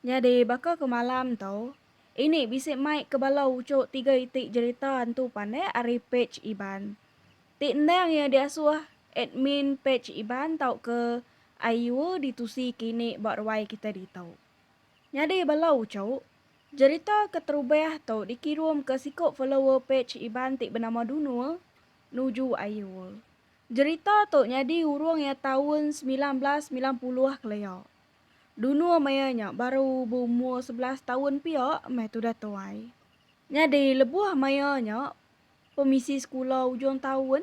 Nyadi baka ke malam tu, ini bisi mai ke bala uchuk tiga iti jerita antu pandai ari pej Iban. Ti endang iya diasuh admin pej Iban tauka IUA ditusi ke ini ba ruai kitai ditu. Nyadi bala uchuk, jerita ke terubah tu dikirum ke siku follower pej Iban ti benama Dunul nuju IUA. Jerita tu nyadi urung iya taun semilan belas semilan puluh kelia. Dulu maya nya baru beumur sebelas taun pia meh tudah tuai. Nyadi lebuh maya nya pemisi sekula ujung taun.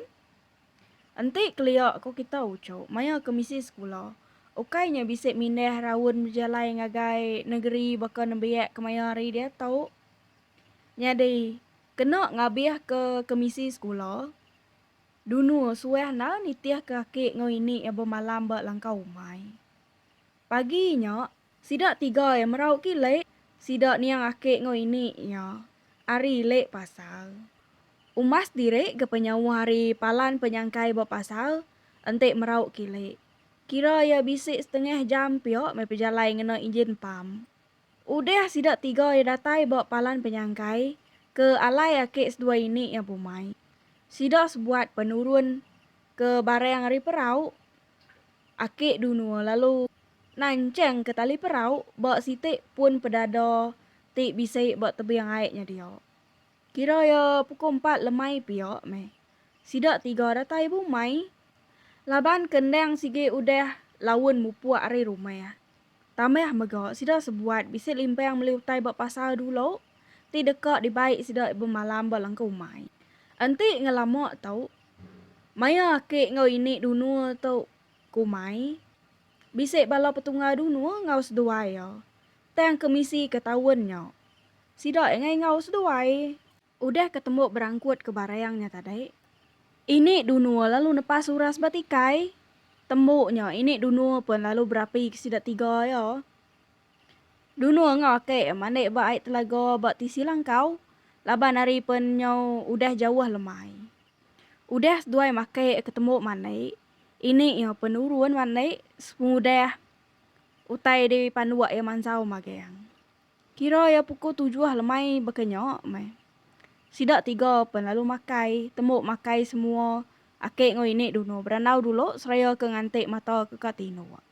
Enti kelia ko kita uchu maya ke misi sekula ukai nya bisi mindah raun bejalai ngagai nengeri baka nembiak kemaya hari diatu. Nyadi kena ngabih ke kemisi sekula dunu suah enda nitih ke aki enggau ini iya bemalam ba langkau umai. Pagi nya, sida tiga iya merau kile sida niang ake enggau ini iya ari ile pasar. Umas diri ke penyauh ari palan penyangkai ba pasar enti merau kile. Kira iya bisi setengah jam pia meh pejalai ngena injin pam. Udah sida tiga iya datai ba palan penyangkai ke alai ake seduai ini iya bumai, sida sebuat penurun ke barang ari perau. Akik Dunua lalu nanchang ke tali perau ba siti pun pedada ti bisi ba tebing ai nya dia. Kira ya pukul empat lemai pia meh. Sida tiga datai bumai laban ke endang sigi udah laun mupuk ari rumah. Tambah mega sida sebuat bisi limpang meli utai ba pasar dulu ti deka dibai sida bemalam ba langkau umai. Enti ngelama tu Maya aki enggau ini Dunur tu kumai, bisi bala petunggal Dunur enggau seduai iya tang ke misi ke taun nya. Sida ingai enggau seduai udah ke tembu berangkut ke Barang nya tadi. Ini Dunur lalu nepas uras ba tikai. Tembu nya, ini Dunur pun lalu berapi ke sida tiga iya. Dulu enggau ake mandi ba ai telaga ba tisi langkau laban ari pen nyau udah jauh lemai. Udah seduai make ketembu mandi, ini iya pen nurun mandi sepengudah utai di panduk iya mansau magang. Kira iya puku tujuh lemai baka nya meh. Sida tiga pen lalu makai, tembu makai semua ake enggau ini dunu berandau dulu seraya ke nganti mata ke ka tinduk.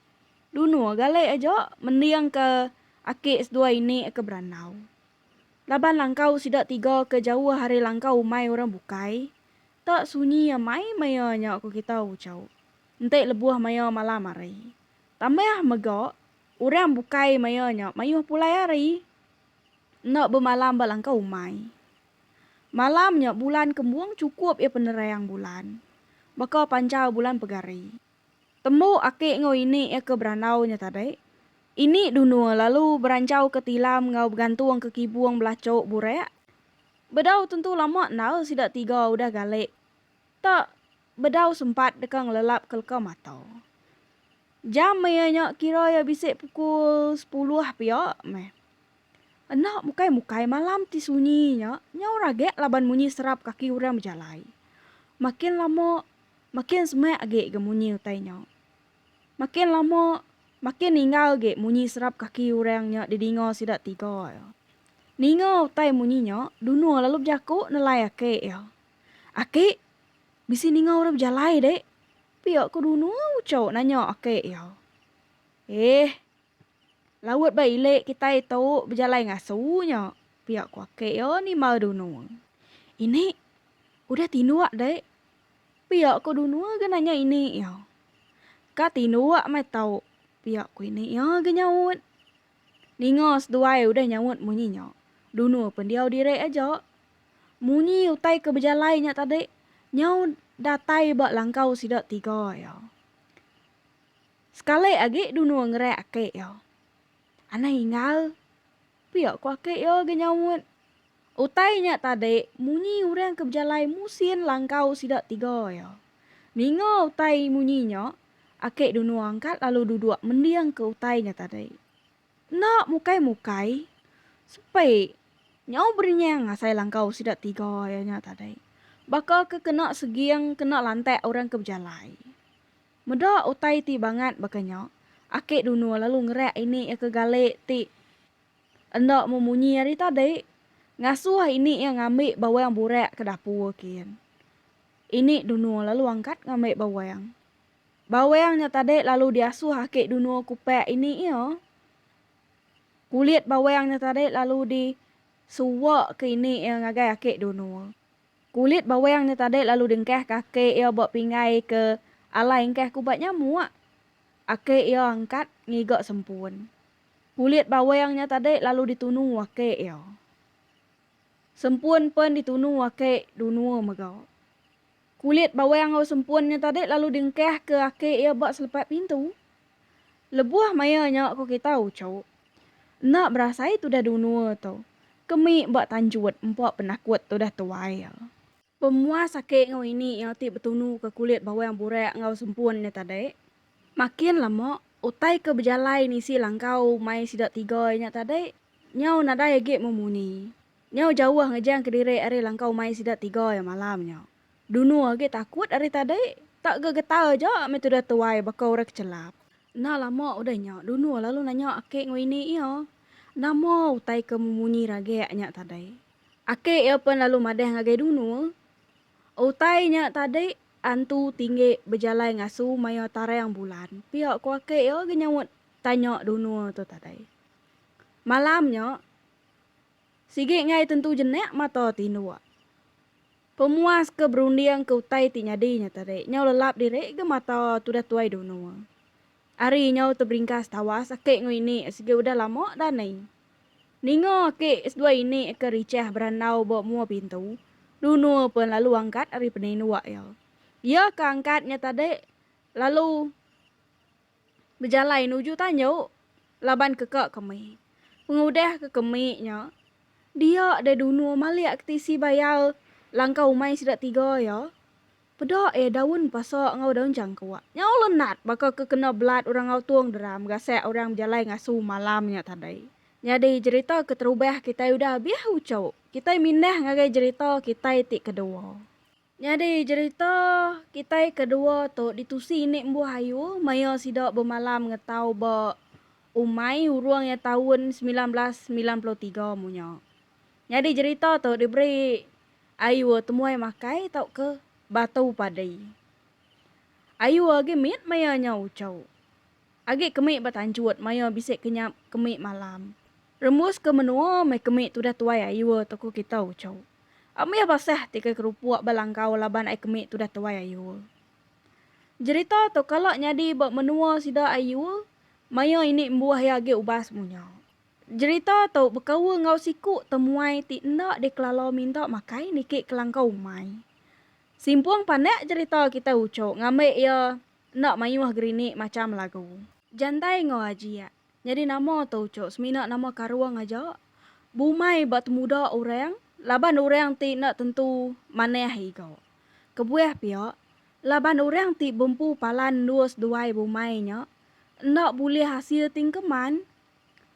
Dunu galai aja mending ke aki seduai ini ke berandau. Laban langkau sida tiga ke jauh ari langkau umai orang bukai. Ta sunyi amai maya nya ku kita Ucau enti lebuh maya malam hari. Tambah mega orang bukai maya nya mayuh pulai hari enda bemalam ba langkau umai. Malam nya bulan kembung chukup iya penerang bulan baka panjau bulan pegari. Tembu aki enggau ini iya ke berandau nya tadi, ini dunu lalu beranchauka tilam enggau begantungka kibung belachuk burak. Bedau tentu lama enda sida tiga udah galik ta bedau sempat deka ngelelapka leka mata. Jam iya nya kira iya bisi pukul sepuluh pia meh. Enda mukai-mukai malam ti sunyi nya nyau ragak laban munyi serap kaki orang bejalai. Makin lama Makin semak agi ga munyi utai nya. Makin lama, makin ninggal agi munyi serap kaki orang nya didinga sida tiga iya. Ninga utai munyi nya, Duno lalu bejaku nelai aki iya. Aki, bisi ninga orang bejalai dek? pia ku Duno uchu nanya aki iya. Eeh, laut ba ilik kitai tu bejalai ngasu nya, pia ku aki iya nimbal Duno. Ini, udah tinduk dek. Pia ko dunu ga nanya ini iya. Ka tinduk meh tau pia ko ini iya ga nyaut. Ninga seduai udah nyaut munyi nya, dunu pendiau diri aja. Munyi utai ke bejalai nya tadi nyau datai ba langkau sida tiga iya. Sekali agi dunu ngereak aki iya. Anang Inggal. Pia ku aki iya ga nyaut. Utai nya tadi munyi orang ke bejalai musin langkau sida tiga iya. Ninga utai munyi nya, aki Dunu angkat lalu duduk mending ke utai nya tadi. Enda mukai-mukai, sepi, nyau berenyang ngasai langkau sida tiga iya nya tadi. Baka ke kena seging kena lantak orang ke bejalai. Meda utai ti bangat baka nya, aki Dunur lalu ngerak ini iya ke Galik ti enda memunyi ari tadi, ngasuh ini iya ngambi bawang burak ke dapur kin. Ini Dunur lalu angkat ngambi bawang. Bawang nya tadi lalu diasuh aki Dunur kupak ini iya. Kulit bawang nya tadi lalu di suwak ke ini iya ngagai aki Dunur. Kulit bawang nya tadi lalu dengkah ke aki iya ba pingai ke alai engkah kubat nyamuk. Aki iya angkat ngiga sempun. Kulit bawang nya tadi lalu ditunu aki iya. Sempun pen ditunu aki dunua mega. Kulit bawang enggau sempun nya tadi lalu dengkah ke aki iya ba selepat pintu. Lebuh maya nya ku kita uchup. Enda berasai tudah dunua tu. Kemi ba tanjut empa penakut tudah tuai. Pemuas ake enggau ini iya ti betunu ke kulit bawang burak enggau sempun nya tadi. Makin lama utai ke bejalai nisi langkau mai sida tiga iya nya tadi. Nyau nadai agi memunyi. Nyau jauh ngejang kediri ari langkau mai sida tiga iya malam nya. Dunu agi takut ari tadi. Tak ga getah aja meh tudah tuai baka orang kechelap. Enda lama udah nya, Dunu lalu nanya aki enggau ini iya, Nama utai ke memunyi ragek nya tadi? Aki iya pen lalu madah ngagai Dunu, Utai nya tadi antu tinggi bejalai ngasu maya tarang bulan pia ku aki iya agi nyaut tanya Dunu tu tadi. Malam nya, sigi enggai tentu jenak mata tinduk. Pemuas ke berunding ke utai ti nyadi nya tadi nyau lelap diri ga mata tudah tuai Dono. Ari nyau teberingkas tawas aki enggau ini sigi udah lama da ni. Ninga aki seduai ini ke richah berandau ba mua pintu, Dono pen lalu angkat ari penindu iya. Iya ke angkat nya tadi lalu. bejalai nuju tanju laban keka kemi. Pengudah ke kemi nya, dia deh dunur malik ke tisi bayal langkau umai sida tiga iya, peda iya daun pasa enggau daun jangkuk. Nyau lenat baka ke kena belat orang ngautung deram gasak orang bejalai ngasu malam nya tadi. Nyadi jerita keterubah kitai udah abih uchu, kitai mindah ngagai jerita kitai ti kedua. Nyadi jerita kitai ke dua tu ditusi ini embuh ayu maya sida bemalam ngetau ba Umai Urung iya taun semilan belas semilan puluh tiga mu nya. Nyadi jerita tu diberi ayu Temuai Makai tauka Batu Padi. Ayu agi mit maya nya uchu. Agi kemi ba tanjut maioh bisi kenyap kemi malam. Rembus ke menoa meh kemi tudah tuai aioh toko kita uco. Ambih basah ti ke kerupok ba langkau laban ai kemi tudah tuai aioh. Jerita to kala nyadi ba menoa sida aioh maioh ini embuah ia agi ubas munya. Jerita to bekaul enggau siku temuai ti enda di kelala minta makai niki kelangkau umai. Simpong panak jerita kita uco ngambi ia Enda mayuh gerinik macham lagu. Jantai enggau ajiak. Nyadi nama tu ucuk semina nama karung aja. Bumai ba temuda orang laban orang ti enda tentu manah iga. Kebuah pia, laban orang ti bempu palan endus duai bumai nya enda bulih asil ti engkeman.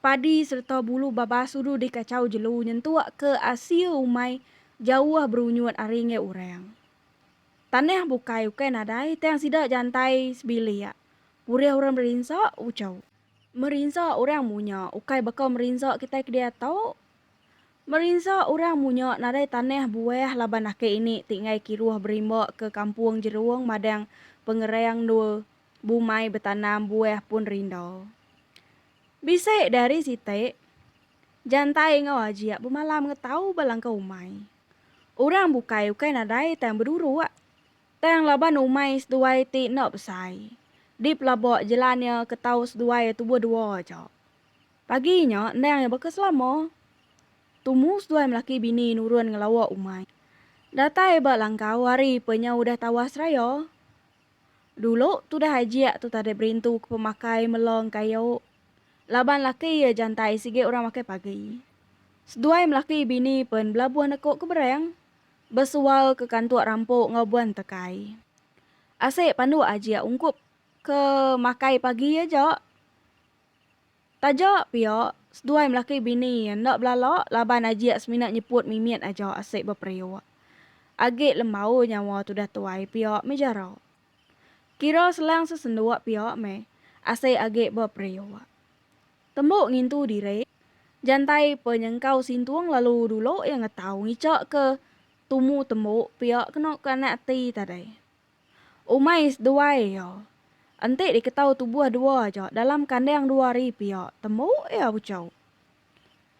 Padi sereta bulu babas udu dikachau jelu nyentuk ke asil umai jauh berunyut ari enggai orang. Tanah bukai ukai nadai tang sida jantai sebilik. Purih orang merinsa, ucau. Merinsa orang munya ukai baka merinsa kitai ke diau tu. Merinsa orang munya nadai tanah buah laban ake ini ti enggai kiruh berimba ke kampung Jerung madang pengerang endur bumai betanam buah pun rinda. Bisi dari siti, jantai enggau ajik bemalam ngetau belangkau umai. Orang bukai ukai nadai tang beduruk. Tang laban umai seduai ti enda besai. Di pelaba jelan iya ke tau seduai tubuh dua aja. Pagi nya endang iya baka selama. Tumu seduai melaki bini nurun ngelawa umai. Datai ba langkau ari pe nya udah tawas raya. Dulu tudah Ajik tu tadai berintu ke pemakai melo engkayu. Laban laki iya jantai sigi orang makai pagi. Seduai melaki bini pen belabuh neko ke berang besual ke kantuk rampu enggau buan tekai. Asik panduk Ajik ungkup ke makai pagi aja. Taja pia, seduai melaki bini iya enda belala laban Ajik semina nyeput mimit aja asik beperiuk. Agi lembau nyawa tudah tuai pia mih jarau. Kira selang sesenduk pia mih asik agi beperiuk. Tembu ngintu diri, Jantai penyengkau sintung lalu dulu iya ngetau ngichakka tumu tembu pia kena ke anak ati tadi. Umai seduai iya. Enti diketau tubuh dua aja dalam kandang dua hari pia tembu iya buchau.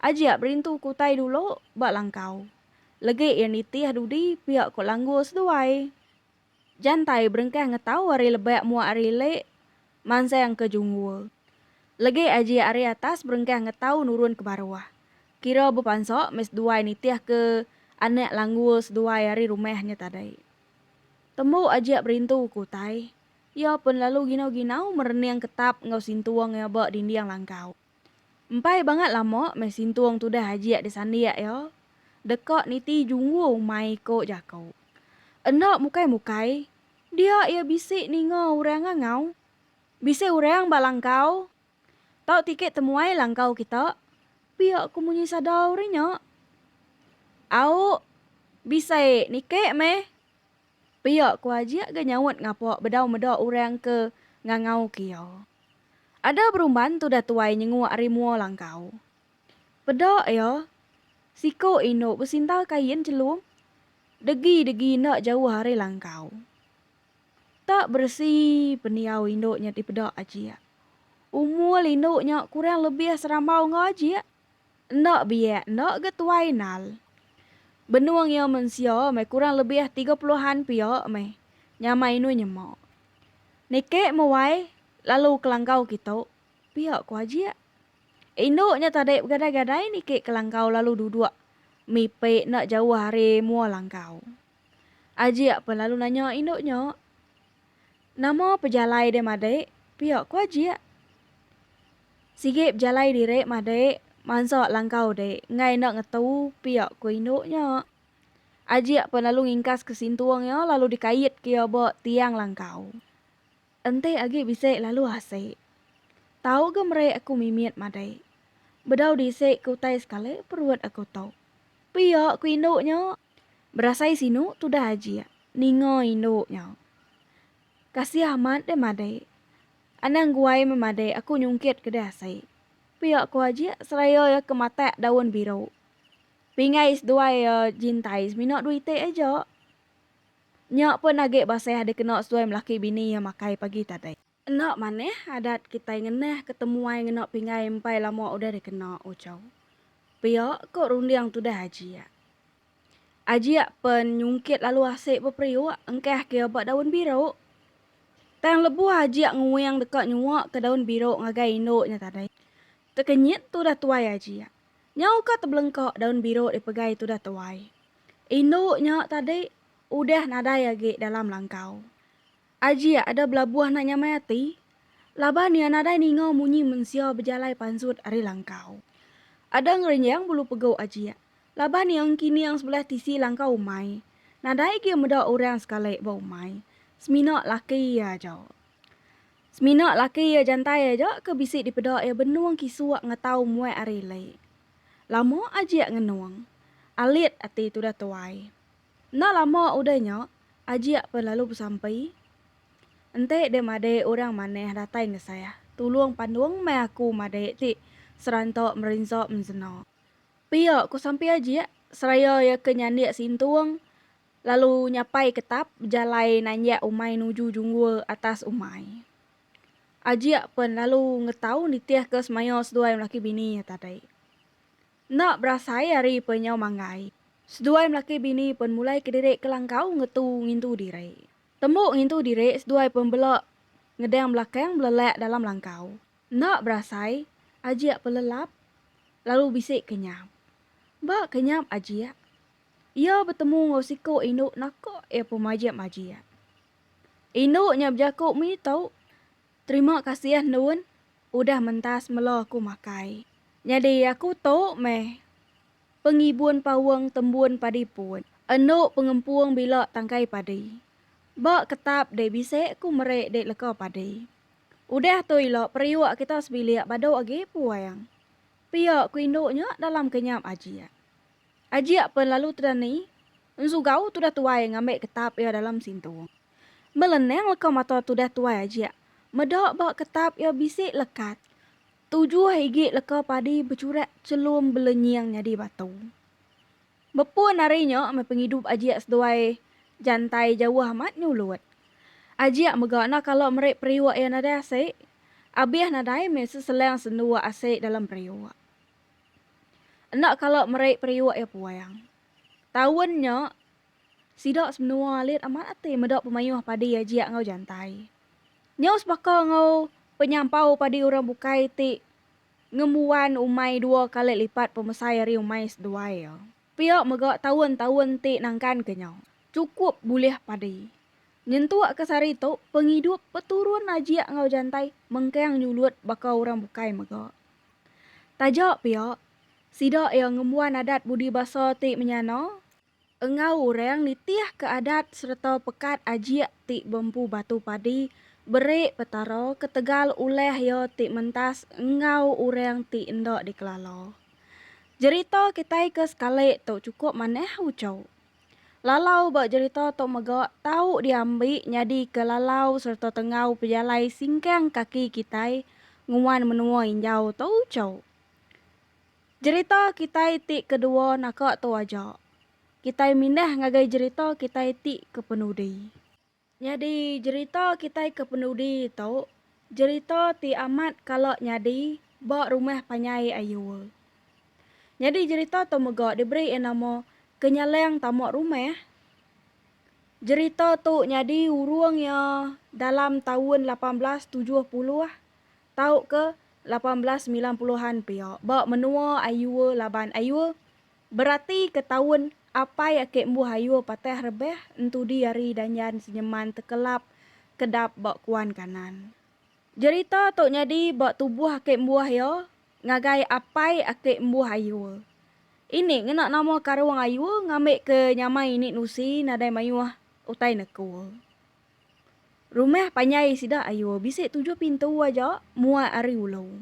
Ajik berintu ke utai dulu ba langkau. Legi iya nitih dudi pia ko langgur seduai. Jantai berengkah ngetau ari lebak muak ari lek mansang ke jungur. Legi ajik ari atas berengkah ngetau nurun ke baruh. Kira bepansa meh seduai nitih ke anak langgur seduai ari rumah nya tadi. Tembu Ajak berintu ke utai, iya pen lalu ginau-ginau merening ketap enggau sintung iya ba dinding langkau. Empai bangat lama meh sintung tudah Ajak disandik iya, deka niti junggu mai iko jako. Enda mukai-mukai, dia iya bisi ninga orang ngangau. Bisi orang ba langkau Tau tikit temuai langkau kita. Pia ku munyi sadau ri nya. Au, bisai nike meh. Pia ku Ajik ga nyaut ngapa bedau meda orang ke ngangauka iya. Ada berumban tudah tuai nyenguk ari mua langkau. Peda iya, siku indu besinta kain chelum degi-degi enda jauh ari langkau. Tak beresi pendiau indu nya dipeda Ajik. Umur indu nya kurang lebih serambau enggau Ajik. Enda biak enda ga tuai nal. Benung iya mensia meh kurang lebih tiga puluhan pia meh nyamai indu nyema. Niki muai lalu kelanggau kitu, pia ku Ajik. Indu nya tadi begadai-gadai niki kelanggau lalu duduk mipik enda jauh ari mua langgau. Ajik pun lalu nanya indu nya, Nama pejalai deh madik? pia ku Ajik. Sigi pejalai diri madik mansa langkau deh enggai enda ngetu, pia ku indu nya. Ajik pun lalu ngingkaska sintung iya lalu dikaitka iya ba tiang langkau. Enti agi bisi lalu asik. Tau ga meri aku mimit madik. Bedau di isi ke utai sekali perut aku tu. Pia ku indu nya. Berasai sinu tudah ajik ninga indu nyau. Kasih amat deh madai. Anang guai memadai aku nyungkit ke deh asai. Pia ko ajik seraya iya ke matak daun biru. Pingai seduai iya jintai semina dua iti aja. Nya pun agi basah dikena seduai melaki bini iya makai pagi tadi. Enda manah adat kitai ngenah ke temuai ngena pinggai empai lama udah dikena ucau pia ko runding tudah Ajiak. Ajiak pen nyungkit lalu asik beperiuk engkah kia ba daun biruk. Tang lebuh Ajiak nguing deka nyua ke daun biruk ngagai indu nya tadi, tekenyit tudah tuai Ajiak. Nyau ka tebelengka daun biruk dipegai tudah tuai indu nya tadi udah nadai agi dalam langkau. Ajie ada belabuh enda nyamai ati laban iya nadai ninga munyi mensia bejalai pansut ari langkau. Ada ngerenjang bulu pegu Ajie laban iya engkining sebelah tisi langkau umai, nadai agi meda orang sekali ba umai semina laki iya aja. Semina laki iya jantai aja ke bisi dipeda iya benung kisuk ngatau muat ari ili. Lama Ajie ngenung. Alit ati tudah tuai. Enda lama udah nya, Ajik pen lalu besampi. Enti dek madik orang manah datai ngesah, tulung pandung meh aku madik ti seranta merinsa mensena. Pia, ku sampi Ajik seraya iya ke nyandik sintung lalu nyapai ketap bejalai nanjak umai nuju junggul atas umai. Ajik pen lalu ngetau nitih ke semaya seduai laki bini nya tadi. Enda berasai ari penyau manggai, seduai melaki bini pen mulai kediri kelangkau ngetu ngintu diri. Tembu ngintu diri seduai pen bela ngedang belakang belelak dalam langkau. Enda berasai, ajik pelelap lalu bisi kenyap. Ba kenyap ajik, iya betemu enggau siku indu naka iya pemajik-majik. Indu nya bejaku mih tu. Terima kasih endun udah mentas melo aku makai. Nyadi aku tu meh pengibun paung tembun padi pun. Endu pengempung bila tangkai padi. Ba ketap deh bisi aku meri dek leka padi. Udah tu ila periuk kita sebilik badu agi puang. Pia aku indu nya dalam kenyap ajik. Ajik pen lalu tudah ni, ensugau tudah tuai ngambi ketap iya dalam sintu. Melenang leka mata tudah tuai ajik meda ba ketap iya bisi lekat tujuh igi leka padi bechurak chelum belenying nyadi batu. Bepun ari nya meh pengidup ajik seduai jantai jauh amat nyulut. Ajik mega enda kala meri periuk iya nadai asik, abih nadai meh seselang sendu asik dalam periuk. Enda kala meri periuk iya puang. Taun nya, sida semenua alit amat ati meda pemayuh padi ajik enggau jantai. Nyau sebaka enggau penyampau padi orang bukai ti ngembuan umai dua kali lipat pemesai ari umai seduai iya, pia mega taun-taun ti nangkanka nya chukup bulih padi. Nyentukka sehari tu, pengidup peturun ajik enggau jantai mengkang nyulut baka orang bukai mega. Taja pia, sida iya ngembuan adat budi basa ti menyana enggau orang nitihka adat sereta pekat ajik ti beempu batu padi beri Petara ketegal ulah Iya ti mentas enggau orang ti enda dikelala. Jerita kitai ke sekali tu chukup manah uchau. Lalau ba jerita tu mega tau diambi nyadika lalau sereta tenggau pejalai singkang kaki kitai nguan menua injau tu chau. Jerita kitai ti kedua naka tu aja. Kitai mindah ngagai jerita kitai ti kepenudi. Nyadi jerita kitai ke penudi tu jerita ti amat kala nyadi ba rumah panyai Ayul. Nyadi jerita tu mega diberi iya nama Kenyalang Tama Rumah. Jerita tu nyadi urung iya dalam taun lapan belas tujuh puluh tauka lapan belas semilan puluh an pia ba menua Ayul laban Ayul Berati ke taun apai ake embuh ayuh patah rebah entudi ari Danjan Senyeman Tekelap kedap ba Kuan Kanan. Jerita tu nyadi ba tubuh ake embuh iya ngagai apai ake embuh ayuh ini ngena nama Karung Ayuh ngambi ke nyamai ini nusi nadai mayuh utai nekul. Rumah panjai sida ayuh bisi tujuh pintu aja muat ari ulu.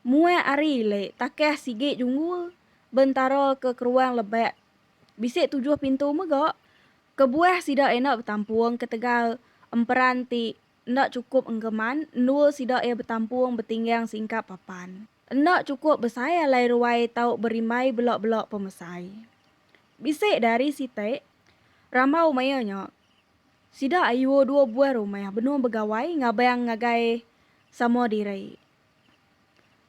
Muat ari le takah sigi junggul bentara ke keruang lebak. Bisi tujuh pintu mega kebuah sida enda betampung ketegal emperan ti enda chukup engkeman endul sida iya betampung betinggang singkap papan. Enda chukup besai alai ruai tau berimbai bela-bela pemesai. Bisi dari siti rambau maya nya sida ayu dua buah rumah benung begawai ngabang ngagai sama diri.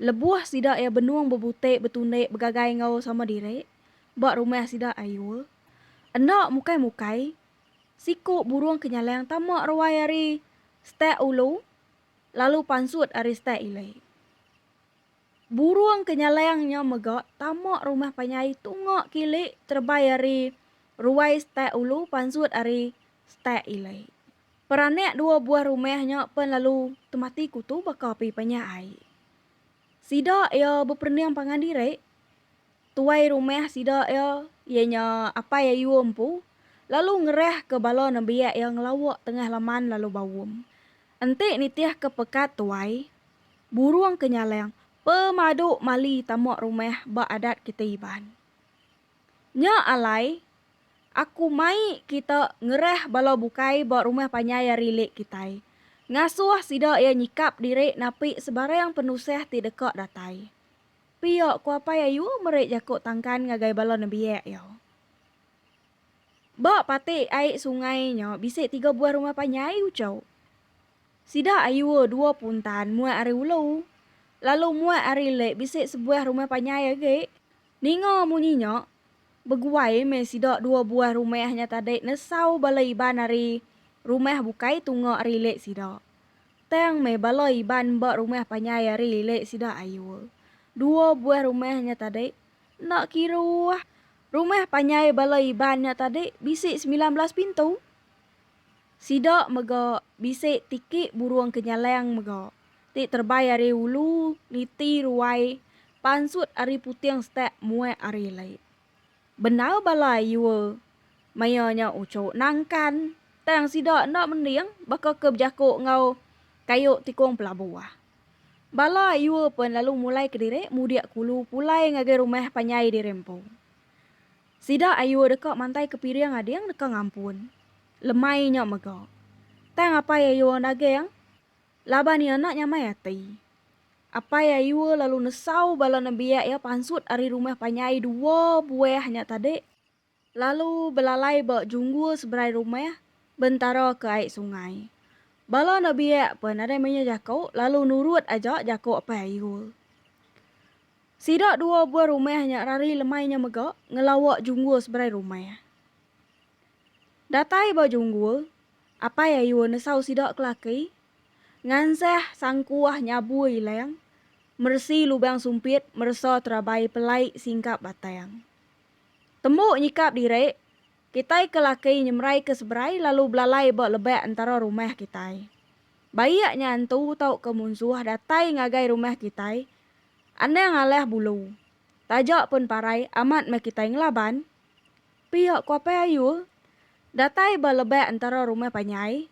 Lebuh sida iya benung bebutik betundik begagai enggau sama diri ba rumah sida Ayul. Enda mukai-mukai, siku burung ke nyalang tama ruai ari stek ulu lalu pansut ari stek ili. Burung ke nyalang nya mega tama rumah panjai tunga kili terebai ari ruai stek ulu pansut ari stek ili. Peranak dua buah rumah nya pen lalu temati kutu baka api panyak ai. Sida iya beperening pangan diri. Tuai rumah sida iya iya nya Apai Ayuh empu lalu ngerah ke bala nembiak iya ngelawak tengah laman lalu baum. Enti nitih ke pekat tuai, burung ke nyalang pemadu mali tama rumah ba adat kiti Iban. Nya alai Aku mai kita ngerah bala bukai ba rumah panjai ari lek kitai. Ngasuh sida iya nyikap diri napi sebarang penusah ti deka datai. Pia ku Apai Ayu meri jaku tangkan ngagai bala nembiak iya. Ba pati ai sungai nya bisi tiga buah rumah panjai uchu. Sida Ayu dua puntan muat ari ulu. Lalu muat ari lek bisi sebuah rumah panjai agi. Ninga munyi nya, beguai meh sida dua buah rumah nya tadi nesau bala Iban ari rumah bukai tunga ari lek sida. Tang meh bala Iban ba rumah panjai ari lek sida ayul. Dua buah rumah nya tadi enda kiruh. Rumah panjai bala Iban nya tadi bisi semilan belas pintu. Sida mega bisi tiki burung ke nyalang mega, ti terebai ari ulu niti ruai pansut ari puting setak muak ari lait. Bendar bala ayua maya nya uchu nangkan, tang sida enda mending baka ke bejaku enggau kayu tikung pelabuh. Bala ayua pen lalu mulai kediri mudik kulu pulai ngagai rumah panjai diri empu. Sida ayu deka mantai ke piring ading deka ngampun. Lemai nya mega. Tang apai ayu orang daging? Laban iya enda nyamai ati. Apai ayu lalu nesau bala nembiak iya pansut ari rumah panjai dua buah nya tadi lalu belalai ba junggul seberai rumah bentara ke ai sungai. Bala nebiak pun nadai menya jaku lalu nurut aja jaku apai ayu. Sida dua buah rumah nya rari lemai nya mega ngelawa Junggul seberai rumah. Datai ba Junggul, Apai Ayun nesau sida kelaki ngansah sangkuah nyabu ilang, meresi lubang sumpit meresa terabai pelai singkap batang. Tembu nyikap diri, kitai ke laki nyemerai ke seberai lalu belalai ba lebak entara rumah kitai. Baik nya antu tauka munsuh datai ngagai rumah kitai Anang alah bulu. Taja pun parai amat meh kitai ngelaban. Pia ku Apai Ayul. Datai ba lebak entara rumah panjai.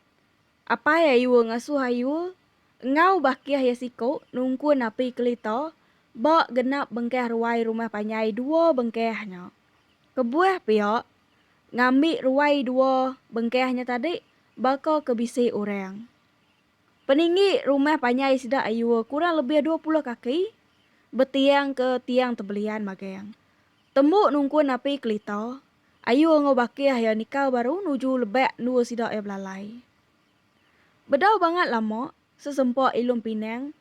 Apai Ayul ngasuh Ayul enggau bakih iya siku nungkun api kelita ba genap bengkah ruai rumah panjai dua bengkah nya. Kebuah pia ngambi ruai dua bengkah nya tadi baka ke bisi orang. Peninggi rumah panjai sida ayua kurang lebih dua puluh kaki betiang ke tiang tebelian magang. Tembu nungkun napi kelita, ayua enggau bakih iya nikal baru nuju lebak endua sida iya belalai. Bedau bangat lama, sesempa Ilum Pinang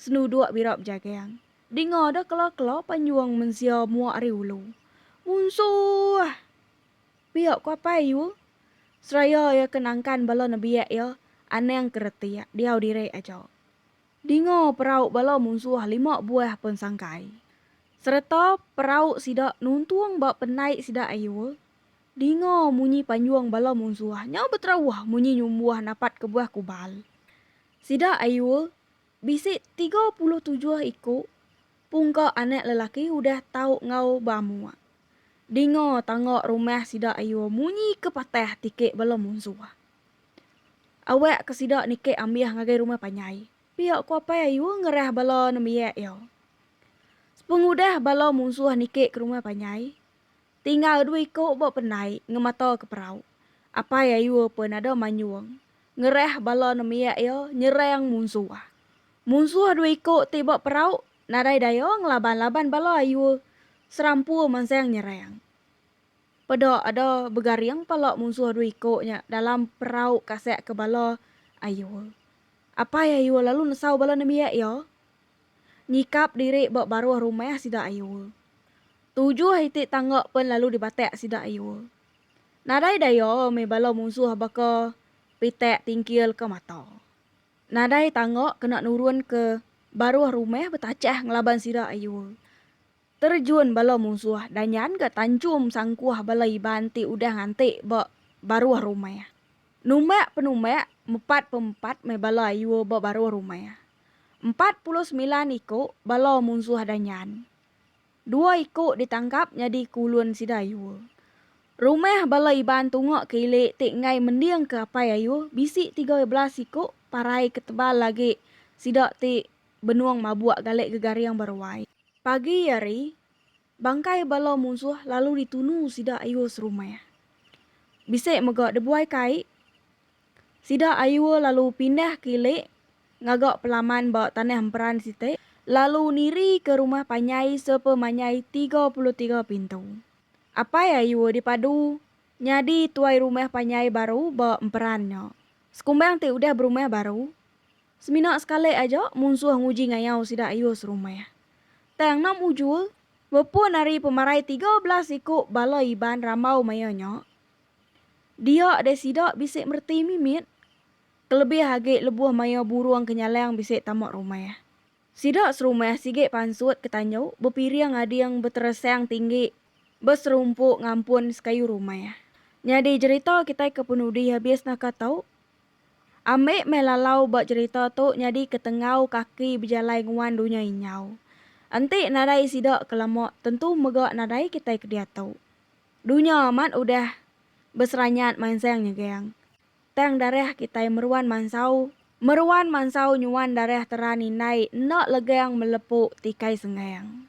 senuduk bira bejagang. Dinga deh kela-kela panjung mensia mua ari ulu. Munsuh! Pia ku apai Yu, seraya iya ke nangkan bala nebiak iya anang ke retik diau diri aja. Dinga perau bala munsuh lima buah pun sangkai, sereta perau sida nuntung ba penai sida Yu dinga munyi panjung bala munsuh nya beterauh munyi nyumbuh napat kebuah kubal. Sida Yu Bisi tiga puluh tujuh iku pungka anak lelaki udah tau enggau beamuk. Dinga tangga rumah sida ayu munyi ke patah tiki bala munsuh. Awak ke sida niki ambih ngagai rumah panjai, pia ku apai ayu ngerah bala nembiak iya. Sepengudah bala munsuh niki ke rumah panjai, Tinggal dua iku ba pendai ngemata ke perau. Apai Ayua pen ada manyung ngerah bala nemiak iya nyerang munsuh. Munsuh dua iku ti ba perau nadai daya ngelaban-laban bala Ayua serampu mansang nyerang. Peda ada begaring pala munsuh dua iku nya dalam perau kasak ke bala Ayua. Apai Ayua lalu nesau bala nemiak iya. nyikap diri ba baruh rumah sida ayu. Tujuh iti tangga pen lalu dibatak sida ayu. Nadai daya meh bala munsuh baka pitak tingkil ke mata. Nadai tangga kena nurun ke baruh rumah betachah ngelaban sida ayu. Terjun bala munsuh danyan ga tanchum sangkuh bala Iban ti udah nganti ba baruh rumah. Numak-penumak, mepat-pempat meh bala ayu ba baruh rumah. Empat puluh semilan iku bala munsuh Danyan. Dua iku ditangkap nyadi ke ulun sida Ayuh. Rumah bala Iban tunga ke ili ti enggai mending ke Apai Ayuh bisi tiga belas iku parai ke tebal agi sida ti benung mabuk galai gegaring ba ruai. Pagi hari. Bangkai bala munsuh lalu ditunu sida ayuh serumah. Bisi mega debuai kai. Sida ayuh lalu pindah ke ili ngaga pelaman ba tanah emperan siti lalu niri ke rumah panyai sepemanyai tiga puluh tiga pintu. Apai ayuh dipadu nyadi tuai rumah panyai baru ba emperan nya. Sekumbang ti udah berumah baru, semina sekali aja munsuh nguji ngayau sida ayuh serumah. Tang Nom Ujul, bepun ari pemarai tiga belas iku bala Iban rambau maya nya, dia deh sida bisi mereti mimit, kelebih agi lebuh maya burung ke nyalang bisi tama rumah. Sida serumah sigi pansut ke tandu bepiring ading beteresang tinggi ba serumpu ngampun sekayu rumah. Nyadi jerita kitai ke penudi habis naka tu. Ambi meh lalau ba cherita tu nyadi ketengau kaki bejalai nguan dunya inyau. Enti nadai sida ke lama tentu mega nadai kitai ke diatu. Dunya amat udah beseranyat mansang nyegang. Tang darah kitai meruan mansau meruan mansau nyuan darah teran indai enda legang melepu tikai sengang.